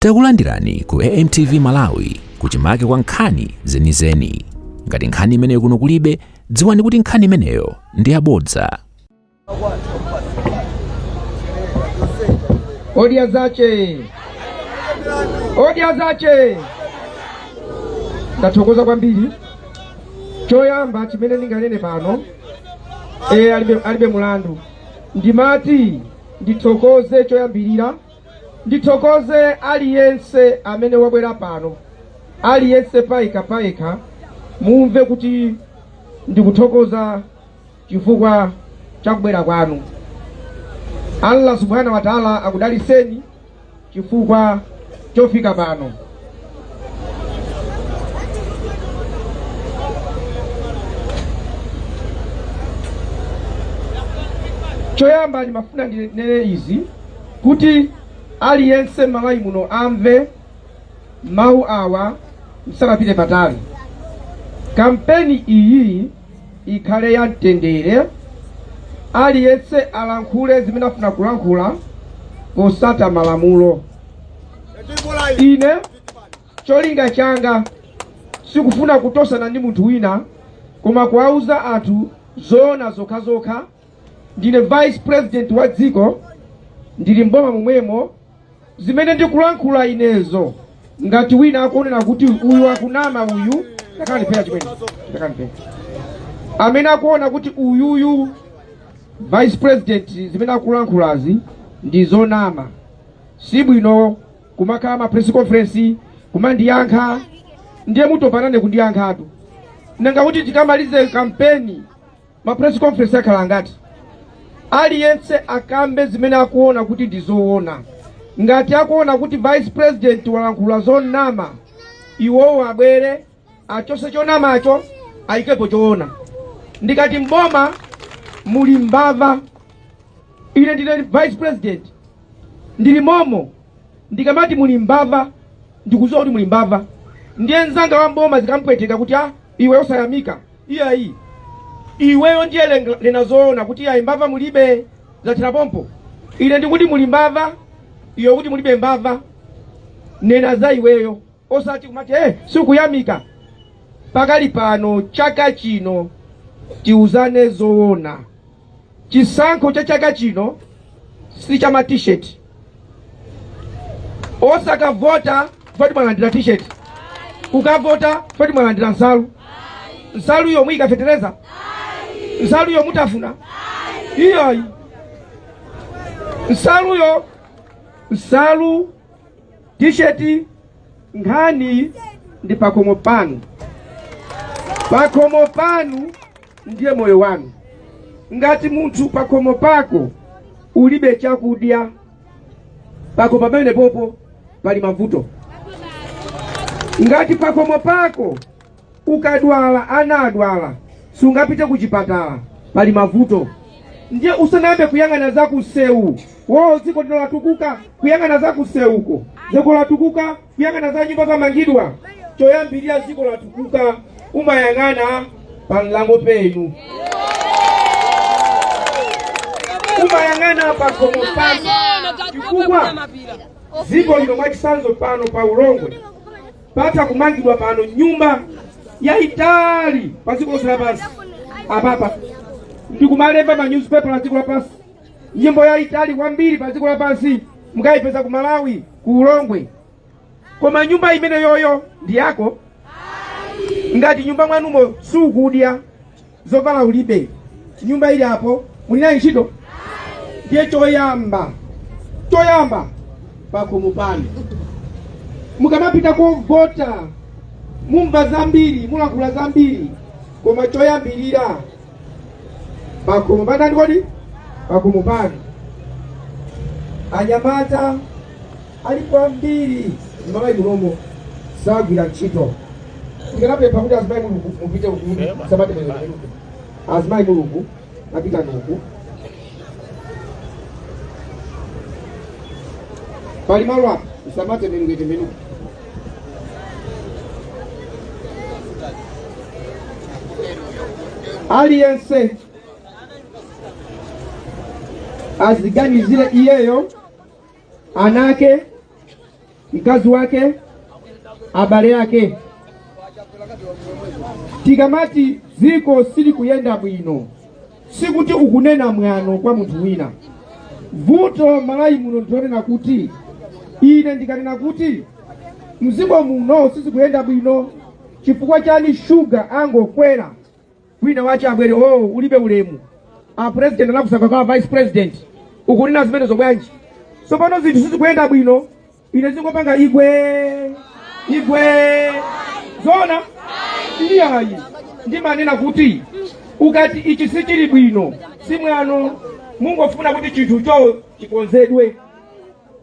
Takulandirani ku AMTV Malawi kuchimake kwa nkhani zenizeni. Ngati nkhani imeneyo kuno kulibe, dziwani kuti nkhani imeneyo ndi yabodza. Odya zache, odya zache. Ndathokoza kwambiri. Choyamba chimene ndinganene pano e, alibe, alibe mulandu ndimati ndithokoze choyambirira ndithokoze aliyense amene wabwera pano aliyense payekha payekha mumve kuti ndikuthokoza chifukwa cha kubwera kwanu allah subhanahu wa taala akudaliseni chifukwa chofika pano choyamba ndimafuna ndinene izi kuti aliyense malawi muno amve mawu awa msanapite patali kampeni iyi ikhale ya mtendere aliyense alankhule zimene afuna kulankhula posata malamulo ine cholinga changa sikufuna kutosana ndi munthu wina koma kuwauza anthu zoona zokhazokha ndine vice president wa dziko ndili mboma momwemo zimene ndikulankhula inezo ngati wina akuonera kuti uyu akunama uyu takanipera chimene takanipera amene akuona kuti uyuyu vice president zimene akulankhulazi ndi zonama si bwino kumakhala ma press conference kumandiyankha ndiye mutopa nane kundiyankhatu nanga kuti tikamalize kampeni ma press conference akhala angati aliyense akambe zimene akuona kuti ndi zoona ngati akuona kuti vice president walankhula zonama iwowo abwere achose chonamacho ayikepo choona ndikati mboma muli mbava ine ndine vice president ndili momo ndikamati muli mbava ndikuziwa kuti muli mbava ndiye mzanga wa mboma zikampweteka kuti ah iwe osayamika iyayi iweyo ndiye nena zoona kuti ayi mbava mulibe zathera pompo ine ndikuti muli mbava iwe ukuti mulibe mbava nena za iweyo osati kumati eh sikuyamika pakali pano chaka chino tiuzane zoona Chisankho cha chaka chino si cha ma T-shirt. Osakavota foti mwalandira T-shirt. Kukavota foti mwalandira nsalu. Nsaluyo muika fetereza? Nsaluyo mutafuna? Iyayi. Nsaluyo nsalu tisheti nkhani ndi pakomo panu pakomo panu ndiye moyo wanu ngati munthu pakomo pako ulibe chakudya pako pamene popo pali mavuto ngati pakomo pako Ukadwala, ana adwala, sungapite kuchipatala, pali mavuto. Ndiye usanayambe kuyang'ana za kusewu, oh dziko lino latukuka, kuyang'ana za kusewuko, dziko latukuka, kuyang'ana za nyumba zamangidwa, choyambirira dziko latukuka, umayang'ana pa mlango penu, umayang'ana pa komo panu, chifukwa dziko lino mwachisanzo pano pa ulongwe patha kumangidwa pano nyumba yayitali pa dziko lonse lapansi apapa ndikumalemba ma newspaper a dziko lapansi nyumba yayitali kwambiri pa dziko lapansi mukayipeza ku malawi ku ulongwe koma nyumba imene yoyo ndi yako ngati nyumba mwanumo sukudya zovala ulibe nyumba ili apo muli nayo ntchito ndiye choyamba choyamba pakomo panu mukamapita kovota mumva zambiri mulankhula zambiri koma choyambirira pakomo panu kodi pakomo panu anyamata ali kwambiri m'malawi munomo sakugwira ntchito ndikanapempha kuti azimayi mulungu mupite uku sabata imeneyi azimayi mulungu apita uku pali malo apa usamate menungete menuku aliyense aziganizire iyeyo ana ake, mkazi wake, abale ake. Tikamati dziko silikuyenda bwino, sikuti ukunena mwano kwa munthu wina. Vuto Malawi muno ndikonena kuti ine ndikanena kuti mdziko muno sizikuyenda bwino chifukwa chani shuga angokwera wina wache abwere o oh, ulibe ulemu a president anakusankha kwa a vice president ukunena zimenezo bwanji tsopano zinthu sizikuyenda bwino ine zingopanga igwe igwe zona iyayi ndimanena kuti ukati ichi sichili bwino simwano mukungofuna kuti chinthu cho chikonzedwe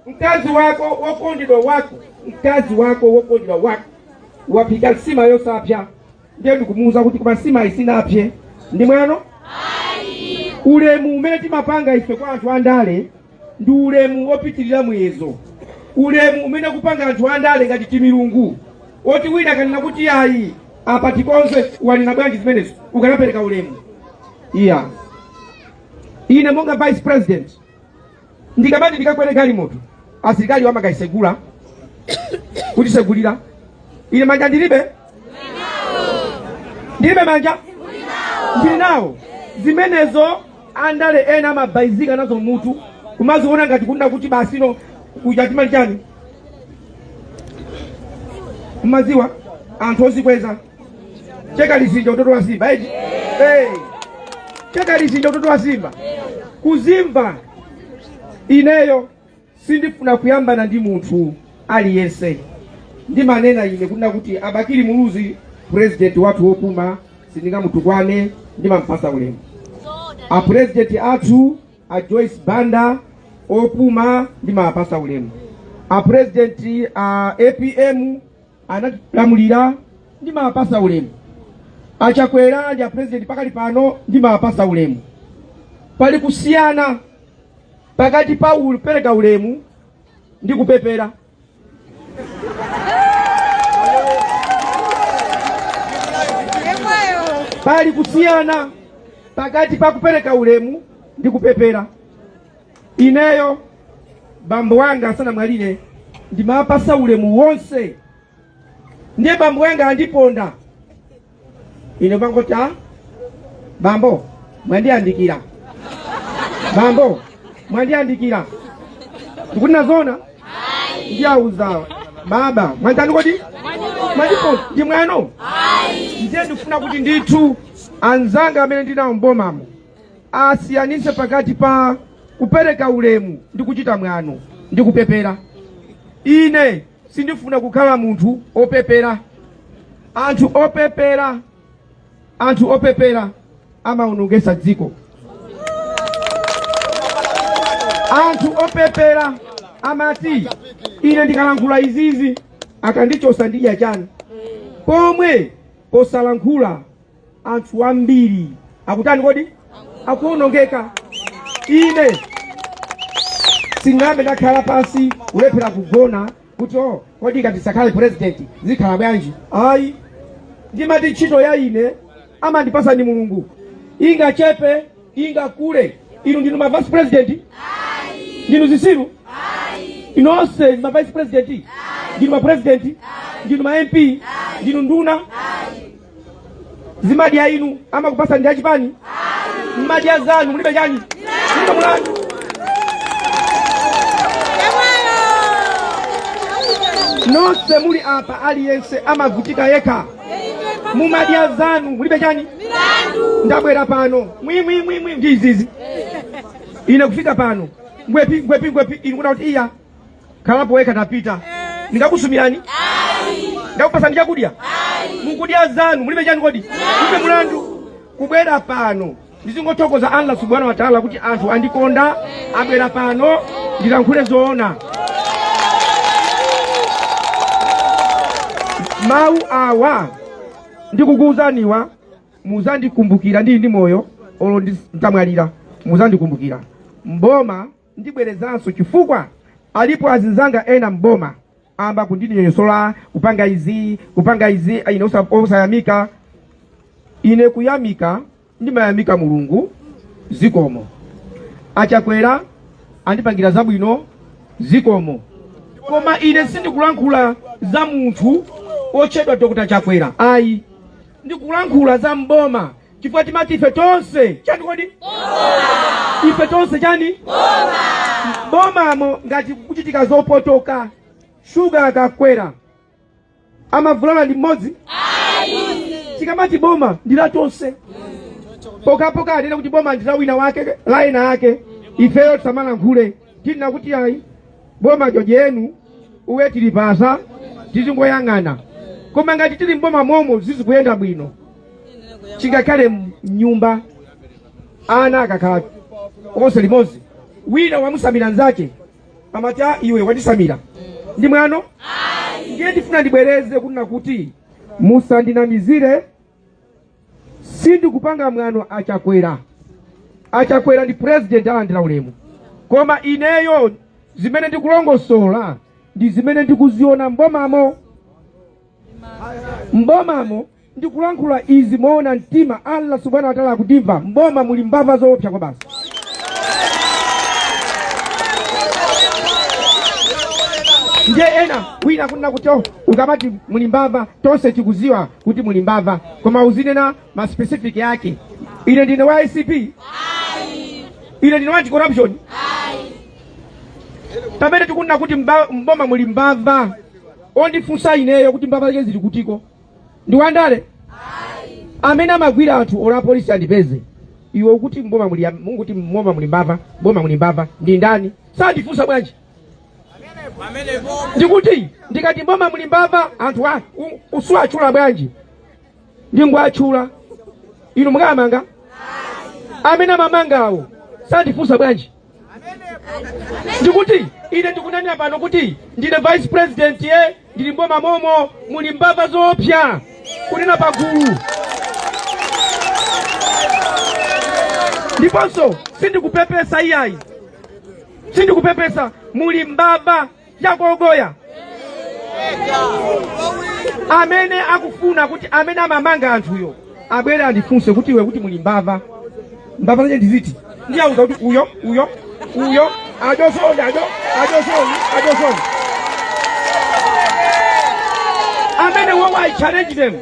mkazi wako wokondedwa wako mkazi wako wokondedwa wako wapika nsima yosapya ndiye ndikumuwuza kuti koma nsimayi sinapsye ndi mwano ulemu umene timapanga ife kwa anthu andale ndi ulemu wopitirira muyezo ulemu umene ukupanga anthu andale ngati timilungu oti wina akanena kuti ayi apa tikonze wanena bwanji zimenezo ukanapereka ulemu iya ine monga vice president ndikamati ndikakwere galimoto asilikali amakayitsegula kutitsegulira ine manja ndilibe ndilibe manja ndili nawo zimenezo andale ena amabayizika nazo mutu kumaziona ngati kunena kuti basi no kuja timati chani mmaziwa anthu ozikweza Chekalizinja utotowazimba eti. Hey. Chekalizinja utotowazimba. Kuzimba ineyo sindifuna kuyambana ndi munthu aliyense ndimanena ine kunena kuti abakili muluzi president wathu wopuma sindingamutukwane ndimampatsa ulemu apresident athu a joyce banda opuma ndimawapatsa ulemu apresident a apm anatilamulira ndimawapatsa ulemu achakwera ndi apresident pakali pano ndimawapatsa ulemu pali kusiyana pakati pa kupereka ulemu ndi kupepera pali kusiyana pakati pa kupereka ulemu ndi kupepera Ineyo bambo wanga asanamwalire ndimawapatsa ulemu wonse, ndiye bambo wanga andiponda ine ndingoti a bambo mwandiyandikira, bambo mwandiyandikira, ndikuti nzoona ndiawuza baba mwatani kodi mwandiponda ndi mwano ndiye ndifuna kuti ndithu anzanga amene ndinawo mbomamo asiyanitse pakati pa kupereka ulemu ndi kuchita mwano ndi kupepera ine sindifuna kukhala munthu opepera anthu opepera anthu opepera amaonongetsa dziko anthu opepera amati ine ndikalankhula izizi akandichotsa ndidya chani pomwe posalankhula anthu ambiri akutani kodi akuonongeka ine sinayambe ndakhala pansi kulephera kugona kuti o kodi ngati sankhale president zikhala bwanji ayi ndimati ntchito ya ine amandipatsa ndi mulungu ingachepe ingakule inu ndinu ma vice president ndinu zitsiru inu nonse ndi ma vice president ndinu ma president ndinu ma mp ndinu nduna zimadya inu amakupasa ndi achipani mmadya zanu mulibe chani mulibe mulandu nonse muli apa aliyense amavutika yekha mumadya zanu mulibe chani ndabwera pano mwimwimwimwi ndi izizi ine kufika pano ngwepi ngwepi ngwepi inu kuna kuti iya khalapo wekha tapita ndingakusumirani ndakupasani chakudya mukudya zanu mulibe chani kodi mulibe mulandu kubwera pano ndizingothokoza allah subhanahu wa taala kuti anthu andikonda abwera pano ndilankhule zoona mawu awa ndikukuwuzaniwa muzandikumbukira ndili ndi moyo olo ndi- nditamwalira muzandikumbukira mboma Ndibwerezanso chifukwa alipo azinzanga ena m'boma amba kundinyoyosola kupanga izi kupanga izi ine osa- osayamika ine kuyamika ndimayamika mulungu zikomo achakwera andipangira zabwino zikomo koma ine sindikulankhula za munthu otchedwa dr chakwera ayi ndikulankhula za mboma chifukwa timati ife tonse chani kodi ife tonse chani bomamo ngati kuchitika zopotoka shuga akakwera amavulala ndi mmodzi tikamati boma ndi la tonse pokhapokha anene kuti boma ndi la wina wake la ena ake ifeyo tisamalankhule tina kuti ayi boma jojenu uwe tilipasa tizingoyang'ana koma ngati tili mboma momo sizikuyenda bwino chingakhale mnyumba ana akakhala onse limodzi wina wamusamira nzake amati "Ah, iwe wandisamira ndi mwano ndiye ndifuna ndibwereze kunena kuti musandinamizire sindikupanga mwano achakwera achakwera ndi president alandira ulemu koma ineyo zimene ndikulongosola ndi zimene ndikuziona mbomamo mbomamo ndikulankhula izi moona mtima allah subhanahu wa taala akutimva mboma muli mbava zoopsa kwabasi ndiye ena wina kunena kuti oh, ukamati muli mbava tonse tikuziwa kuti muli mbava koma uzinena ma specific yake ine ndine wa acb ine ndine wa anti-corruption pamene tikunena kuti mba- mboma muli mbava ondifunsa ineyo kuti mbava zake zili kutiko ndi wandale amene amagwira anthu olo apolisi andipeze iwe ukuti mboma muli munguti mboma muli mbava mboma muli mbava ndi ndani sandifunsa bwanji ndikuti ndikati mboma muli mbava anthu a u- usawatchula bwanji ndingwatchula inu mukamanga amene amamangawo sandifunsa bwanji ndikuti ine ndikunena pano kuti ndine vice president ye ndili mboma momo muli mbava zoopsa kunena pagulu ndiponso sindikupepesa iyayi sindikupepesa muli mbava yakogoya amene akufuna kuti amene amamanga anthuyo abwere andifunse kuti iwe kuti muli mbava mbava zache ndiziti ndiwauza kuti uyo uyo uyo ajosoni ajo ajosoni ajosoni amene wowo i challenge them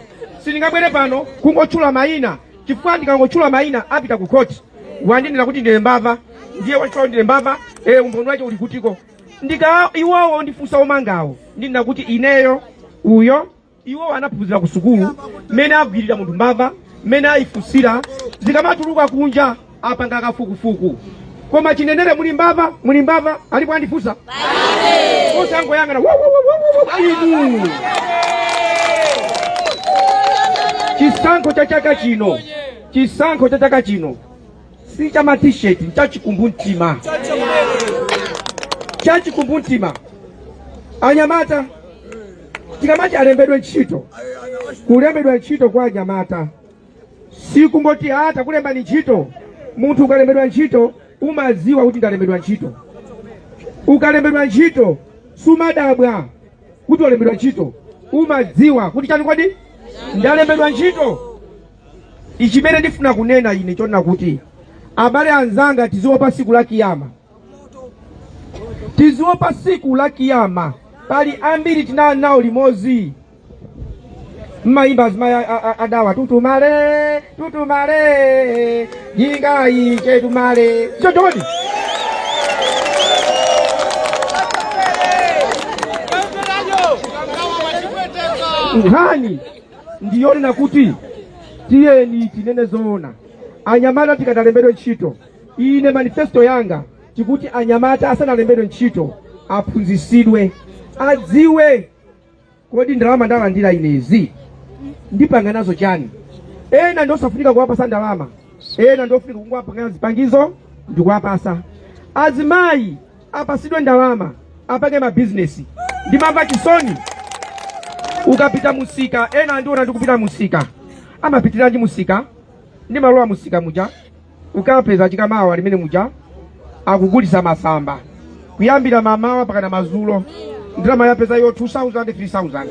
sindingabwere pano kungotchula mayina chifukwa ndikangotchula mayina apita ku khoti wandinena kuti ndine mbava ndiye wanditcha ndine mbava eh umboni wake uli kutiko ndika iwowo ndifunsa omangawo ndinena kuti ineyo uyo Iwo anaphunzira ku sukulu mmene agwirira munthu mbava, mmene ayifunsira, zikamatuluka kunja apanga kafukufuku. Koma chinenere muli mbava, muli mbava, alipo andifunsa? Onse angoyang'ana "Wo, wo, wo, wo, wo, wo," inu. Chisankho cha chaka chino, chisankho cha chaka chino si cha matisheti cha chikumbumtima cha chikumbumtima anyamata tikamati alembedwe ntchito kulembedwa ntchito kwa anyamata si kungoti takulembani ntchito munthu ukalembedwa ntchito umaziwa kuti ndalembedwa ntchito ukalembedwa ntchito sumadabwa kuti walembedwa ntchito umadziwa kuti chani kodi ndalembedwa ntchito Ichimene ndifuna kunena ine chonena kuti abale anzanga tiziopa siku la kiyama tiziopa siku la kiyama pali ambiri tinali nawo limozi mmayimba azimayi a- a- a- adawa tutumale tutumale jinga iche tumale chotoni nkhani ndiyonena kuti tiyeni tinene zoona anyamata tikati alembedwe ntchito ine manifesto yanga ikuti anyamata asanalembedwe ntchito aphunzisidwe adziwe kodi ndalama ndalandira inezi ndipanga nazo chani ena ndiosafunika kuwapasa ndalama ena ndiofunika kungowapangira zipangizo ndikuwapasa azimayi apasidwe ndalama apange mabizinesi ndimamva chisoni ukapita musika ena andiwona ndikupita musika amapitiranji musika ndimalowa musika muja ukapeza chikamawa ali mmene muja akugulisa masamba kuyambira mamawa mpakana mazulo ndalama yapezayo 2000 3000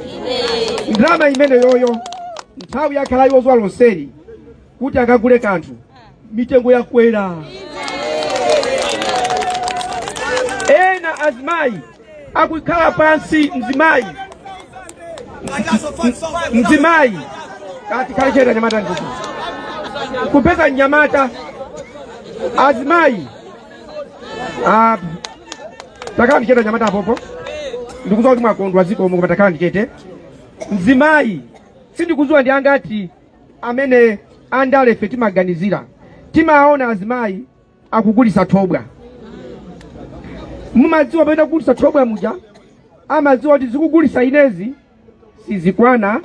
ndalama imeneyoyo nthawi yakhalayo zuwa lonseli kuti akagule kanthu mitengo yakwera ena azimayi akukhala pansi mzimayi mzimayi takhala chete anyamata ndiko kupeza nyamata azimayi ah, takhalani chete anyamata apopo ndikuziwa kuti mwakondwa zikomo koma takhalani chete mzimayi sindikuziwa ndi angati amene andale ife timaganizira timaona azimayi akugulisa thobwa mumadziwa pamene akugulisa thobwa muja amadziwa kuti zikugulisa inezi sizikwana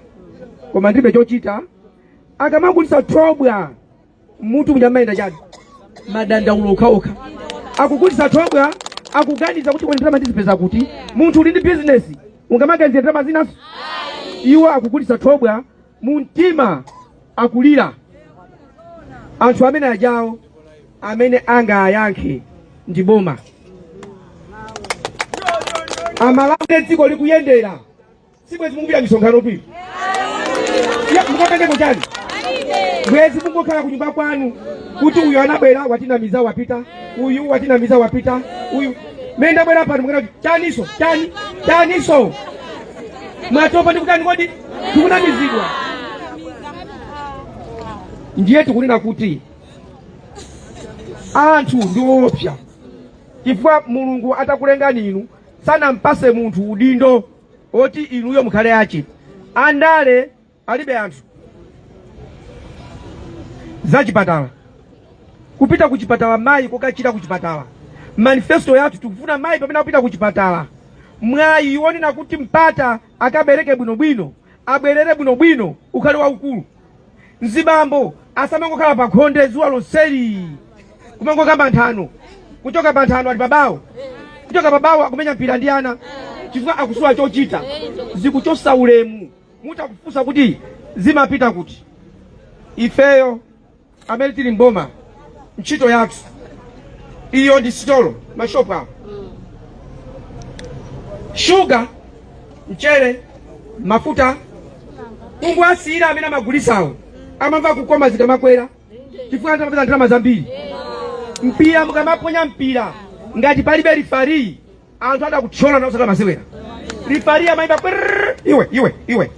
koma ndilibe chochita akamagulisa thobwa m'mutu muja amayenda chani madandaulo okhaokha akugulisa thobwa akuganiza kuti kweni ndalama ndizipeza kuti munthu uli ndi bizinesi ungamaganizira ndalama zinanso iwo akugulisa thobwa mu mtima akulira anthu ameneajawo amene angawayankhe ndi boma aMalawi dziko likuyenda sibwezi mukupita misonkhanotu mukapangeko chani bwezi mungokhala kunyumba kwanu kuti uyu anabwera watinamiza wapita uyu watinamiza wapita uyu mene ndabwera pano mukunena chaniso chani chaniso mwatopa ndikutani kodi tikunamizidwa ndiye tikunena kuti anthu ndi oopsa chifukwa mulungu atakulengani inu sanampase munthu udindo oti inuyo mukhale ake andale alibe anthu zachipatala kupita kuchipatala mayi kokachira kuchipatala manifesto yathu tikufuna mayi pamene akupita kuchipatala mwayi wonena kuti mpata akabereke bwinobwino abwerere bwinobwino ukhale waukulu mzibambo asamangokhala pa khonde zuwa lonseli kumangokamba nthano kuchoka pa nthano ali pabawo kuchoka pabawo akumenya mpira ndi ana chifukwa akusowa chochita zikuchosa ulemu muti akufunsa kuti zimapita kuti ifeyo amene tili mboma ntchito yathu iyo ndi sitolo mashopu awo shuga mchere mafuta mungu asiyira amene amagulisawo amamva kukoma zikamakwera chifukwa amapeza ndalama zambiri mpira mukamaponya mpira ngati palibe lifariyi anthu atha kuthyolana osakhala masewera lifari amayimba brrrr, iwe iwe iwe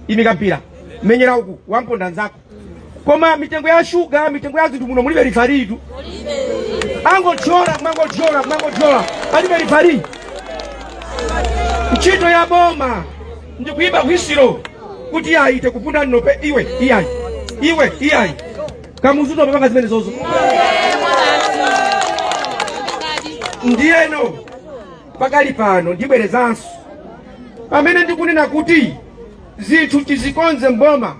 imika mpira menyera uku wamponda nzako koma mitengo ya shuga mitengo ya zinthu muno mulibe lifaritu angothyola kumangothyola kumangothyola palibe lifari ntchito ya boma ndi kuyimba hwisiro kuti ayi tekupunda nnope iwe iyayi iwe iyayi kamuzutu amapanga zimenezozo ndiyeno pakali pano ndibwerezanso pamene ndikunena kuti zinthu tizikonze mboma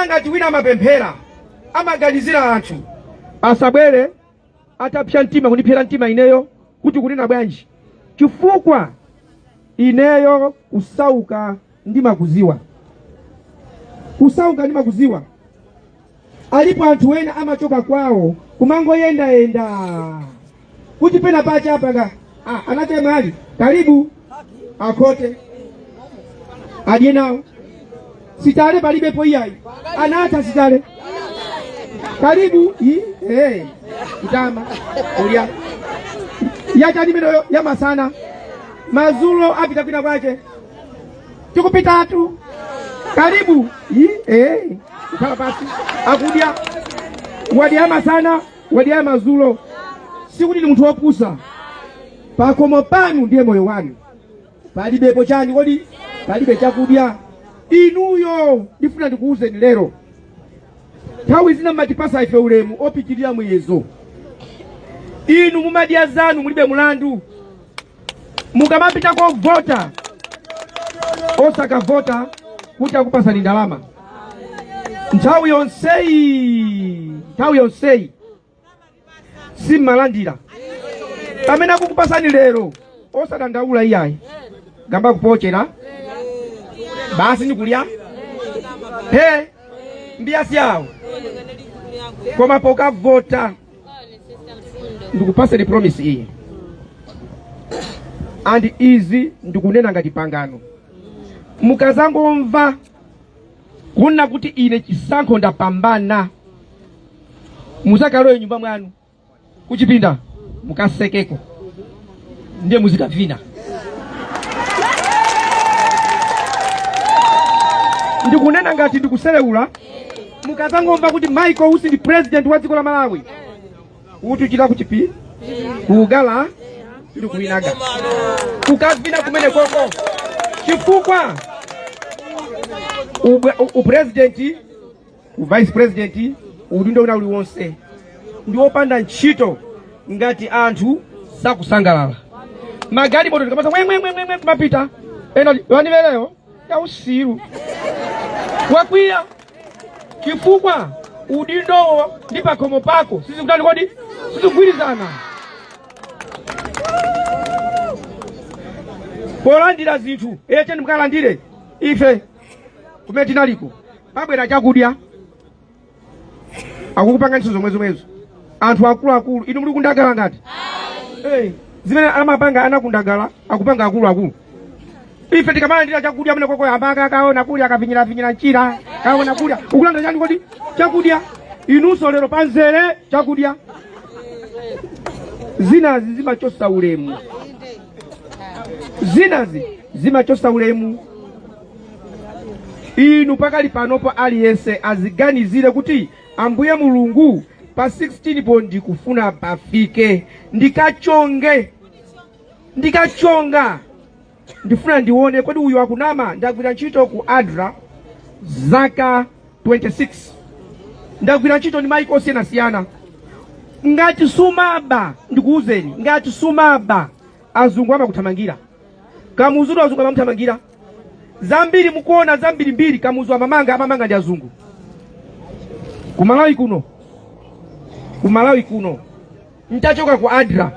ngati wina amapemphera amaganizira anthu asabwere atapsa mtima kundipsera mtima ineyo kuti kunena bwanji chifukwa ineyo kusauka ndimakuziwa kusauka ndimakuziwa alipo anthu ena amachoka kwawo kumangoyendayenda kuti pena pache apanga ah, anachemwali karibu akhote adye nawo sitale palibepo iyayi anatha sitale karibu i- eh, kutama ulya yachani imeneyo ya masana mazulo apita kwina kwache tikupitatu karibu i- eh, kukhala pasi akudya wadya masana wadya mazulo sikuti ni munthu wopusa pakomo panu ndiye moyo wanu palibepo chani kodi palibe chakudya inuyo ndifuna ndikuwuzeni lero nthawi zina mmatipasa ife ulemu opitirira muyezo inu mumadya zanu mulibe mulandu mukamapita kovota osakavota kuti akupasani ndalama nthawi yonseyi nthawi yonseyi simmalandira pamene akukupasani lero osadandaula iyayi gamba kupochera basi nikulya he mbiya syawo koma pokavota ndikupaseni promise iyi and izi ndikunena ngati pangano mukazangomva kunena kuti ine chisankho ndapambana muzakalowe nyumba mwanu kuchipinda mukasekeko ndiye muzikavina ndikunena ngati ndikuselewula mukazangomva kuti michael usi ndi president wa dziko la malawi utuchira ku chipi kugala ndi kuinaga kukavina kumenekoko chifukwa ubwe- u- upresidenti uvice president udindo wina uliwonse ndi wopanda ntchito ngati anthu sakusangalala magalimoto ndikamasa mwemwemwemwe kumapita ena wanivereyo ya usiru wakwiya chifukwa udindowo ndi pakhomo pako sizikutani kodi sizikugwirizana polandira zinthu echeni mukalandire ife kumene tinaliko pabwera chakudya akukupanganinso zomwezomwezo anthu akuluakulu inu muli kundagala ngati Eh, zimene amapanga ana akundagala akupanga akuluakulu ife tikamalandira chakudya mene kwakwe amaka kaona kulya kavinyiravinyira mchira kaona kulya ukulanda chani kodi chakudya inunso lero panzere chakudya zinazi zimachosa ulemu zinazi zimachosa ulemu inu pakali panopo aliyense aziganizire kuti ambuye mulungu pa 16 po ndikufuna pafike ndikachonge ndikachonga ndifuna ndione kodi uyu akunama ndagwira ntchito ku adra zaka 26 ndagwira ntchito ndi maiko osiyanasiyana ngati sumaba ndikuwuzeni ngati sumaba azungu amakuthamangira kamuzutu azungu amamuthamangira zambiri mukuona zambirimbiri kamuzu amamanga amamanga ndi azungu kumalawi kuno kumalawi kuno ntachoka ku adra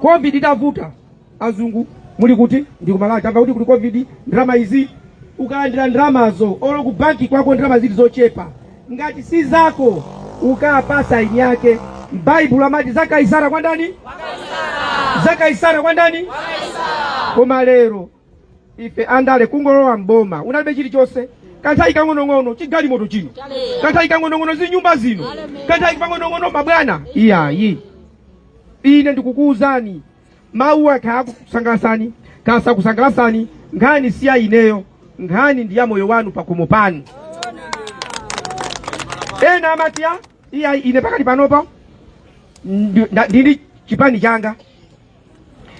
covid itavuta azungu muli kuti ndi kumalawi tamva kuti kuli covid ndalama izi ukalandira ndalamazo olo ku banki kwako ndalama zili zochepa ngati si zako ukapasa eni yake baibulo amati za kaisara kwa ndani za kaisara kwa ndani koma lero ife andale kungolowa mboma unalibe chilichonse kanthawi kang'onong'ono chigalimoto chino kanthawi kang'onong'ono zinyumba zino kanthawi pang'onong'ono mabwana iyayi ine ndikukuwuzani mawuwa kaya akusangalasani kaya sakusangalasani nkhani si ya ineyo nkhani ndi ya moyo wanu pakomo panu ena amati a iyayi ine pakati panopa ndi- nda- ndili chipani changa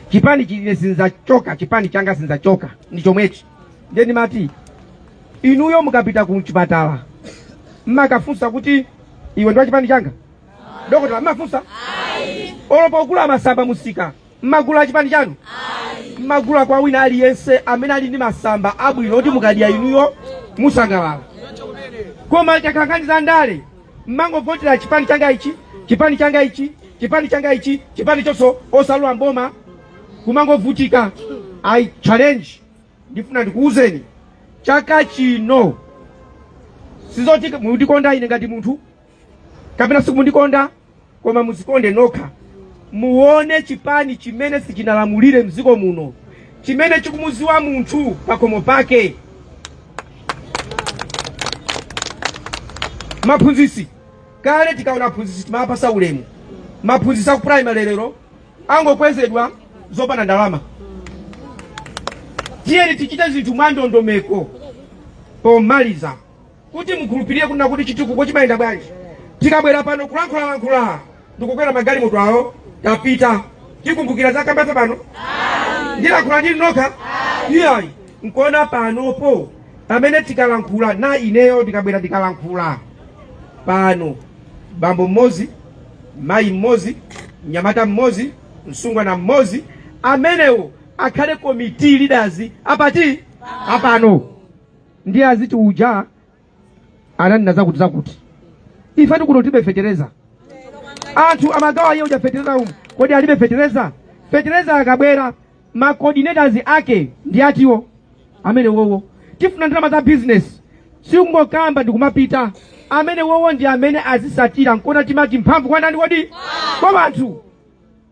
chipani chine sinzachoka chipani changa sinzachoka ndi chomwechi ndiye ndimati inuyo mukapita ku chipatala mmakafunsa kuti iwe ndi wa chipani changa dokotala mmafunsa olo pogula masamba mumsika mmagula chipani chanu mmagula kwa wina aliyense amene ali ndi masamba abwino oti mukadya inuyo musangalala koma mukakangana za ndale mmangovotera chipani changa ichi chipani changa ichi chipani changa ichi chipani chonsecho osalowa mboma kumangovutika i challenge ndifuna ndikuwuzeni chaka chino sizoti mundikonda ine ngati munthu kapena simundikonda koma muzikonde nokha muone chipani chimene sichinalamulire mdziko muno chimene chikumuziwa munthu pakomo pake maphunzisi kale tikaona aphunzisi timapasa ulemu maphunzisi aku primary lero angokwezedwa zopanda ndalama tiyeni tichite zinthu mwandondomeko pomaliza Kuti mukhulupirire kunena kuti chitukuko chimayenda bwanji tikabwera pano kulankhulalankhula ndikukwera magalimoto awo tapita tikumbukira zakambafe pano ndilankhula ndi inu nokha iyayi nkona panopo pamene tikalankhula na ineyo ndikabwera ndikalankhula pano bambo mmozi mayi mmozi mnyamata mmozi msungwana mmozi amenewo akhale komiti leaders apati apano ndiye aziti uja ananena zakuti zakuti ife tikuno tibe fetereza anthu amagawa iye uja fetereza umu kodi alibe fetereza fetereza akabwera ma coordinators ake ndi atiwo amene wowo tifuna ndalama za business sikungokamba ndikumapita amene wowo ndi amene azisatira nkona timati mphamvu kwa ndani kodi kwa wanthu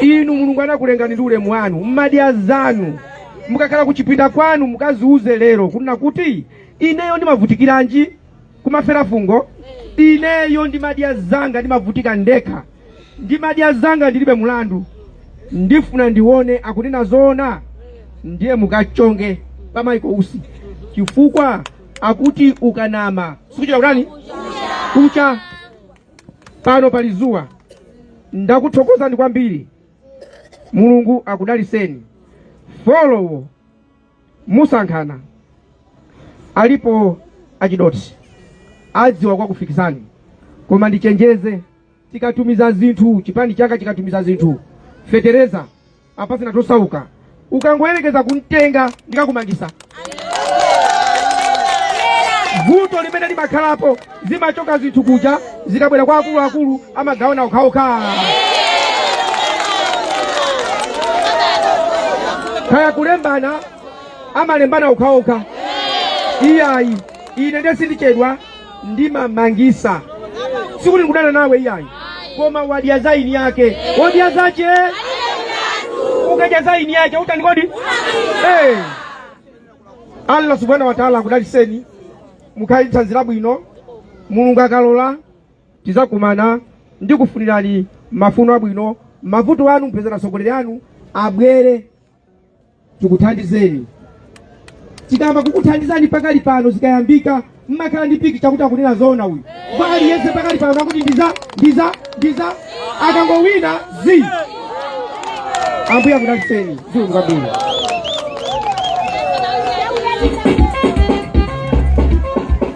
inu mulungu anakulengani ndi ulemu wanu mmadya zanu mukakhala kuchipinda kwanu mukaziuze lero kunena kuti ineyo ndimavutikiranji kumafera fungo ineyo ndimadya zanga ndimavutika ndekha ndimadya zanga ndilibe mulandu ndifuna ndione akunena zoona ndiye mukachonge pa Michael Usi chifukwa akuti ukanama sikuchedwa kutani kucha pano pali zuwa ndakuthokozani kwambiri mulungu akudaliseni folowo musankhana alipo achidoti adziwa kwakufikisani koma ndichenjeze tikatumiza zinthu chipani changa chikatumiza zinthu fetereza apatseni atosauka ukangoyerekeza kumtenga ndikakumangisa vuto limene limakhalapo zimachoka zinthu kuja zikabwera kwa akuluakulu amagawana okhaokha kaya kulembana amalembana okhaokha iyayi ine nde sindichedwa ndimamangisa sikuti ndikudana nawe iyayi koma wadya za eni ake wadya zache ukadya za eni ake utani kodi hey. allah subhanahu wa taala akudalitseni mukhale ndi thanzi labwino mulungu akalola tizakumana ndikufunirani mafuno abwino mavuto anu mpeza atsogoleri anu abwere tikuthandizeni tikayamba kukuthandizani pakali pano zikayambika mmakhala ndi piki chakuti akunena zoona uyu kwa aliyense pakali pano akuti ndiza ndiza ndiza akangowina zi ambuye akudalitseni zikomo kwambiri